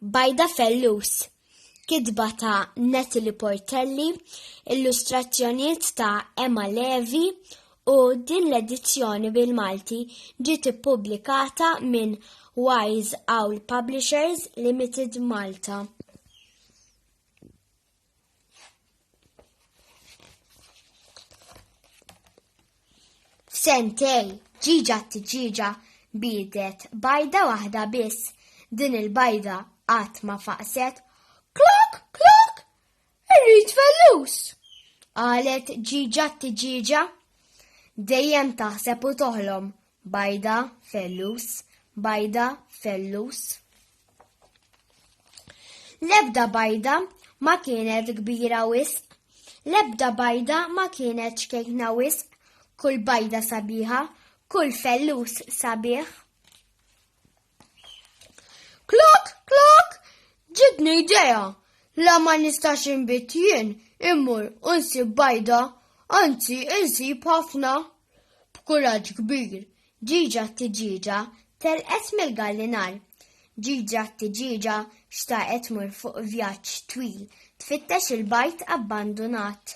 Bajda Fellus kitba ta' Natalie Portelli, illustrazzjonijiet ta' Emma Levi u din l-edizzjoni bil-Malti ġiet ippubblikata minn Wise Owl Publishers Limited Malta. Sentej, ġiġa t-ġiġa bidet bajda waħda biss. Din il-bajda qatt ma faqset. Klok, klok, irrid fellus. Qalet ġiġa t-ġiġa. Dejjem taħseb u toħlom Bajda, fellus, bajda, fellus. L-ebda bajda ma kienet kbira wisq, l-ebda bajda ma kienet xkejkna wisq, kull bajda sabiħa, kull fellus sabiħ. Klok, klok, ġitni idea. La ma nistax inbit jien, immur unsib bajda, anzi insib ħafna. B'kuraġġ kbir, ġiġa t-tiġieġa telqet mill-gallinar. Ġiġa t-tiġieġa xtaqet tmur fuq vjaġġ twil tfittex il-bajd abbandunat.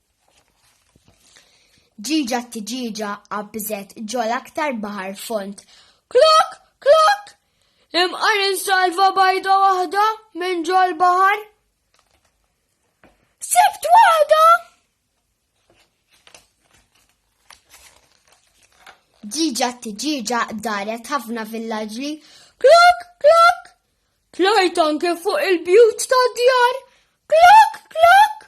Ġiġa t-tiġiġa qabżet ġol aktar baħar fond. Klok, klok! Imqar insalva bajda waħda minn ġol baħar. Sibt waħda! Ġiġa t-ġiġa daret ħafna villaġġi. Klok, klok! Tlajt anke fuq il-bjut ta' djar. Klok, klok!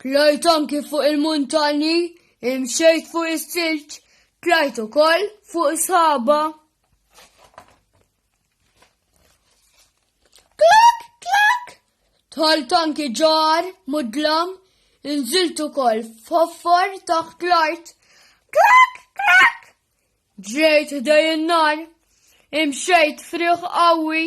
Tlajt anki fuq il-muntanji, imxejt fuq is-silġ, tlajt ukoll fuq is-sħaba. Klak, klak! Tħalt anki ġar, mudlam, inżilt ukoll f'ħoffor taħt l-art. Klak, klak! Ġrejt ħdej in-nar, imxejt friħ qawwi.